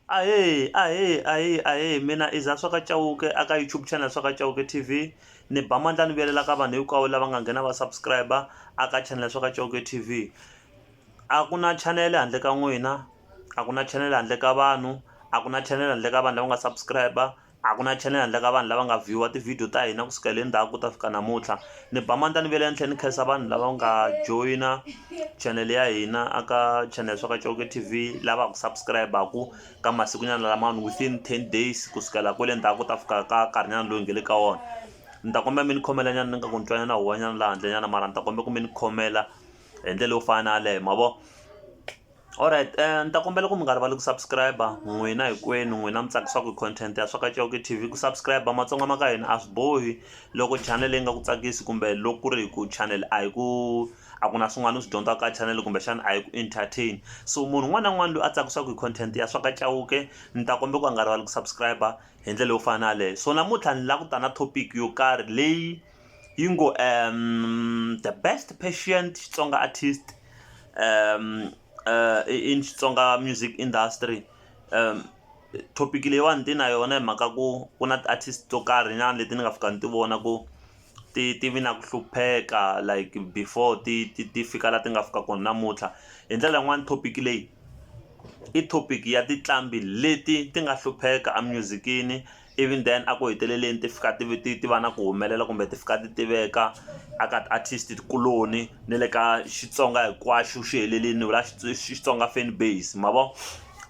Ahee ahee ahee ahee mina i za swa ka Chauke a ka YouTube channel swa ka Chauke T_V ni ba mandla ni vuyelela ka vanhu hinkwavo lava nga nghena va subscriber a ka channel swa ka Chauke T_V a ku na channel handle ka n'wina a ku na channel handle ka vanhu a ku na channel handle ka vanhu lava nga subscriber A ku na channel handle ka vanhu lava nga view-a ti-video ta hina kusukela endzhaku ku ta fika namuntlha ni ba mandla ni ve le henhla ni khensa vanhu lava nga joyina channel ya hina a ka channel swa ka Chauke TV lava ku subscribe-aku ka masikunyana lamawani within ten days kusukela kwele ndzhaku ku ta fika ka nkarhinyana loyi nge le ka wona ni ta kombela mi ni khomela nyana ni nga ku ni twa nyana huwanyana laha handle nyana mara ni ta kombela ku mi ni khomela hi ndlela yo fana na yaleyo ma vo Alright ni ta kombela ku mi nga rivali ku subscribe n'wina hinkwenu n'wina mi tsakisiwaka hi content ya swa ka Chauke T_V ku subscribe matsonga ma ka hina a swi bohi loko channel leyi nga ku tsakisi kumbe loko ku ri hi ku channel a hi ku a ku na swin'wana u swi dyondzaka ka channel kumbexana a hi ku entertain so munhu un'wana na un'wana loyi a tsakisiwaka hi content ya swa ka Chauke ni ta kombela ku a nga rivali ku subscribe hi ndlela yo fana na yaleyo so namuntlha ni lava ku ta na topic yo karhi leyi yi ngo um the best patient xitsonga artist um uh, in xitsonga music industry um topic leyiwani ti na yona hi mhaka ku ku na ti-artist to karhi nyana leti ni nga fika ni ti vona ku ti ti vi na ku hlupheka like before ti ti ti fika la ti nga fika kona namuntlha hi ndlela yin'wani topic leyi i topic ya tinqambi leti ti nga hlupheka emusic-ini. even then a ku heteleleni ti fika ti ti ti va na ku humelela kumbe ti fika ti tiveka a ka ti artist tikuloni na le ka Xitsonga hinkwaxo xi helelini va Xitsonga fan base ma vo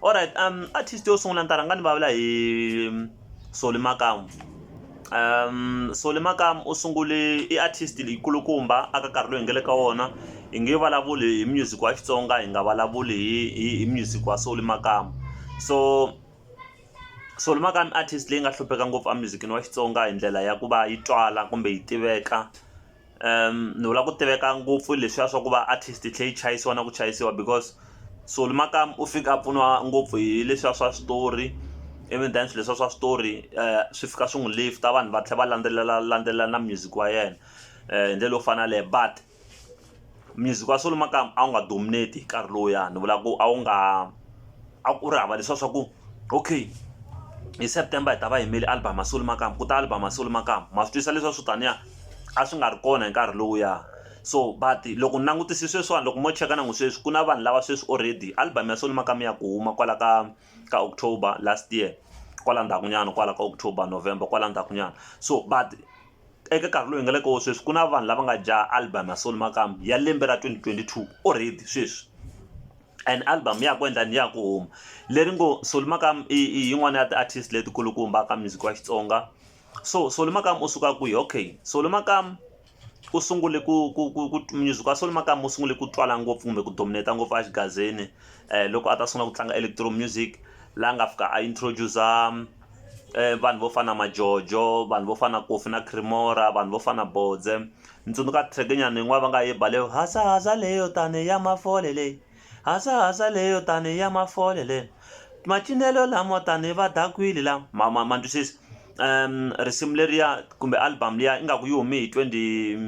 alright artist yo sungula ni ta rhanga ni vulavula hi Solly Makamu Solly Makamu u sungule i artist leyi kulukumba aka nkarhi lowu hi nga le ka wona hi nge vulavuli hi music wa Xitsonga hi nga vulavuli hi hi hi music wa Solly Makamu so. Solo Makami i artist leyi nga hlupheka ngopfu a music-ini wa Xitsonga hi ndlela ya ku va yi twala kumbe yi tiveka ni vula ku tiveka ngopfu leswiya swa ku va artist yi tlhe yi chayisiwa na ku chayisiwa because Solo Makami u fika a pfuniwa ngopfu hi leswiya swa switori even then swi leswiya swa switori swi fika swi n'wi lift-a vanhu va tlhe va landzelela landzelela na music wa yena hi ndlela yo fana na yaleyo but music wa solo makaya a wu nga dominate hi nkarhi lowuyani ni vula ku a wu nga a ku ri hava leswiya swa ku okay hi September hi ta va yimele album ya solo makamu ku ta album ya solo makamu ma swi twisisa leswiya swo taniya a swi nga ri kona hi nkarhi lowuya so but loko ni langutise sweswiwani loko mo cheka na n'wi sweswi ku na vanhu lava sweswi already album ya solo makamu ya ku huma kwala ka ka October last year kwala ndzhaku nyana kwala ka October November kwala ndzhaku nyana so but. eka nkarhi lowu hi nga le ka wo sweswi ku na vanhu lava nga dya album ya Solly Makamu ya lembe ra twenty twenty two already sweswi and album ya ha ku endla ni ya ku huma leri ngo Solly Makamu i i yin'wana ya ti artist leti kulukumba ka music wa Xitsonga so Solly Makamu u suka kwihi okay Solly Makamu u sungule ku ku ku ku music wa Solly Makamu u sungule ku twala ngopfu kumbe ku dominate ngopfu a xigazini loko a ta sungula ku tlanga electro music la nga fika a introduce-a. vanhu vo fana na majojo vanhu vo fana na kofi na creamora vanhu vo fana na bodze ni tsundzuka track nyana yin'wana va nga yi ba leyo hasahasa leyo tani ya mafole leyi hasahasa leyo tani ya mafole leyi macinelo lamo tani va dakwini la ma ma ma ni twisisa risimu leriya kumbe album liya ingaku yi hume hi twenty.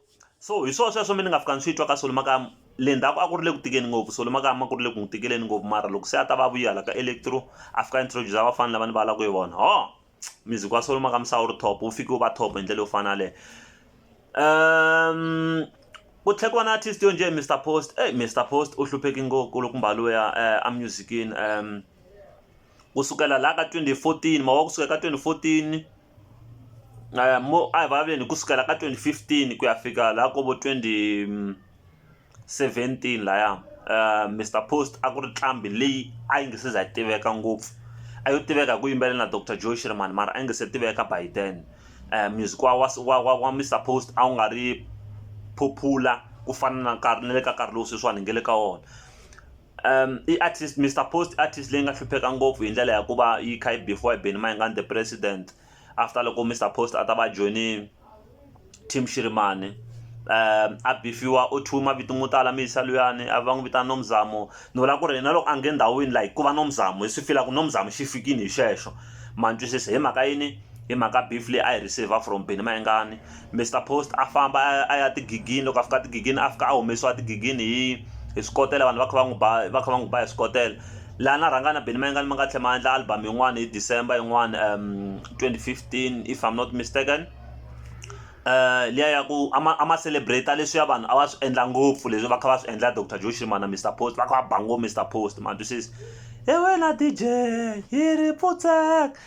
So hi swona sweswo mina ni nga fika ni swi twa ka Solly mhaka le ndzhaku a ku ri le ku tikeni ngopfu Solly mhaka a ku ri le ku n'wi tikeleni ngopfu mara loko se a ta va a vuye hala ka Electro a fika a introduce-a vafana lava ni vulavulaka hi vona hoo music wa Solly mhaka misava wu ri top wu fike wu va top hi ndlela yo fana yaleyo ku tlhela ku va na artist yo njhe Mister Post Mister Post u hlupheke ngopfu kulukumba luya a music-ini . ku sukela laha ka twenty fourteen mavoko kusuka ka twenty fourteen mo a hi vulavuleni hi ku sukela ka twenty fifteen ku ya fika laha ka vo twenty seventeen laya Mister Post a ku ri nqambi leyi a yi nga se za yi tiveka ngopfu a yo tiveka hi ku yimbelela na Doctor Joe Shirimani mara a yi nga se tiveka by then music wa wa wa wa wa Mister Post a wu nga ri popular ku fana na nkarhi na le ka nkarhi lowu sweswiwani hi nga le ka wona. i artist Mister Post i artist leyi nga hlupheka ngopfu hi ndlela ya ku va yi kha yi beef-iwa hi Benny Mayengani the president after loko Mister Post a ta va join-i team Shirimani a beef-iwa u thyiwe mavito mo tala mi yisa luyani a va n'wi vitana Nomzamo ni vula ku ri yena loko a nge ndhawini like ku va Nomzamo hi swi fila ku Nomzamo xi fikini hi xexo ma ni twisisa hi mhaka yini hi mhaka beef leyi a yi receive-a from Benny Mayengani. Mister Post a famba a ya tigigini loko a fika tigigini a fika a humesiwa tigigini hi hi swikotela vanhu va kha va n'wi ba va kha va n'wi ba hi swikotela laha na rhanga na Benny Mayengani ma nga tlhela ma endla album yin'wana hi December yin'wana twenty fifteen if I'm not mistaken liya ya ku a ma a ma celebrate leswiya vanhu a va swi endla ngopfu leswi va kha va swi endla Doctor Joe Shirimani na Mister Post va kha va ba ngopfu Mister Post ma twisisa hi wena D_J hi ri pfutseka.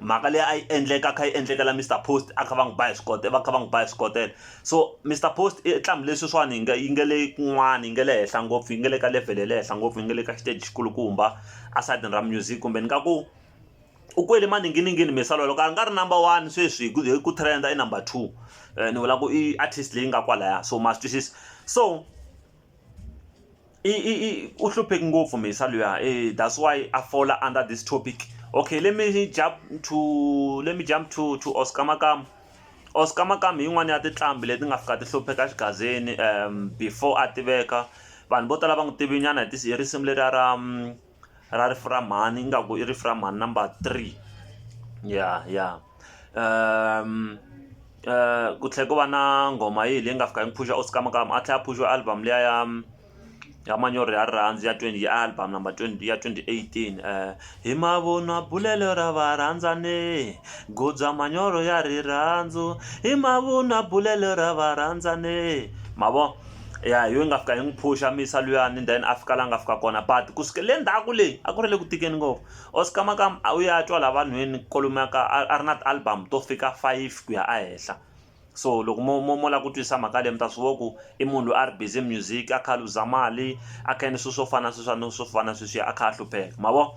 mhaka leyi a yi endleka a kha yi endlekela Mister Post a kha va n'wi ba hi swikotela va kha va n'wi ba hi swikotela so Mister Post i nqambi leyi sweswiwani yi nga yi nga le kun'wana yi nga le henhla ngopfu yi nga le ka level ya le henhla ngopfu yi nga le ka xiteji xi kulukumba esayitini ra music kumbe ni nga ku u kwele maninginingini Mister Solwa loko a nga ri number one sweswi hi ku hi ku trend i number two ni vula ku i artist leyi nga kwalaya so ma swi twisisa so. i i i u hlupheki ngopfu mhisa luya eh that's why a fola under this topic okay let me jump to let me jump to to Oscar Makamu Oscar Makamu hi yin'wana ya tinqambi leti nga fika ti hlupheka xigazini before a tiveka vanhu vo tala va n'wi tivi nyana hi hi risimu leriya ra. ra rifu ra mhani ingaku i rifu ra mhani number three ya ya ku tlhela ku va na nghoma yihi leyi nga fika yi phuxa oskamakamu a tlhela a phuxa album liya ya ya manyoro ya rirhandzu ya twenty ya album number twenty ya twenty eighteen hi mavunwa bulelo ra varhandzani goza manyoro ya rirhandzu hi mavunwa bulelo ra varhandzani ma vo. ya hi yo yi nga fika yi n'wi phusha mi yisa luyani and then a fika laha a nga fika kona but ku suka le ndzhaku le a ku ri le ku tikeni ngopfu or swikamakama a wu ya twa laha vanhwini kwalomuya ka a a ri na ti-album to fika five ku ya ehenhla so loko mo mo mo lava ku twisisa mhaka leyi mi ta swi vona ku i munhu loyi a ri busy music a kha a luza mali a kha a endla swilo swo fana na sweswiya na swo fana na sweswiya a kha a hlupheka ma vo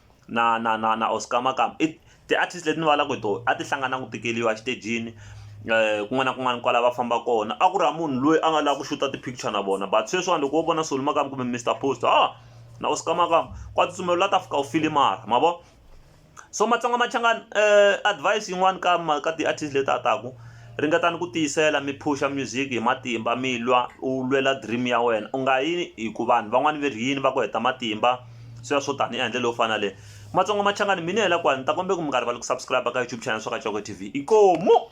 na na na na Oscar Makamu i ti artist leti ni vulavulaka hi tona a ti hlangana na ku tikeriwa exitejini kun'wana na kun'wana kwala va famba kona a ku ri hava munhu loyi a nga lava ku xuta ti picture na vona but sweswiwani loko wo vona Solly Makamu kumbe Mister Post ha na Oscar Makamu wa tsutsuma u la ta fika u file mara ma vo so Matsonga Machangani advise yin'wani ka ma ka ti artist leti a taku ringetani ku tiyisela mi phusha music hi matimba mi lwa u lwela dream ya wena u nga yi hi ku vanhu van'wana va ri yini va ku heta matimba. sweswo tani ya ndlela yo fana le matsongo machangani mina hi la kwani ni ta kombela ku mi nga rivali ku subscribe ka youtube channel swa ka Tshoko TV inkomu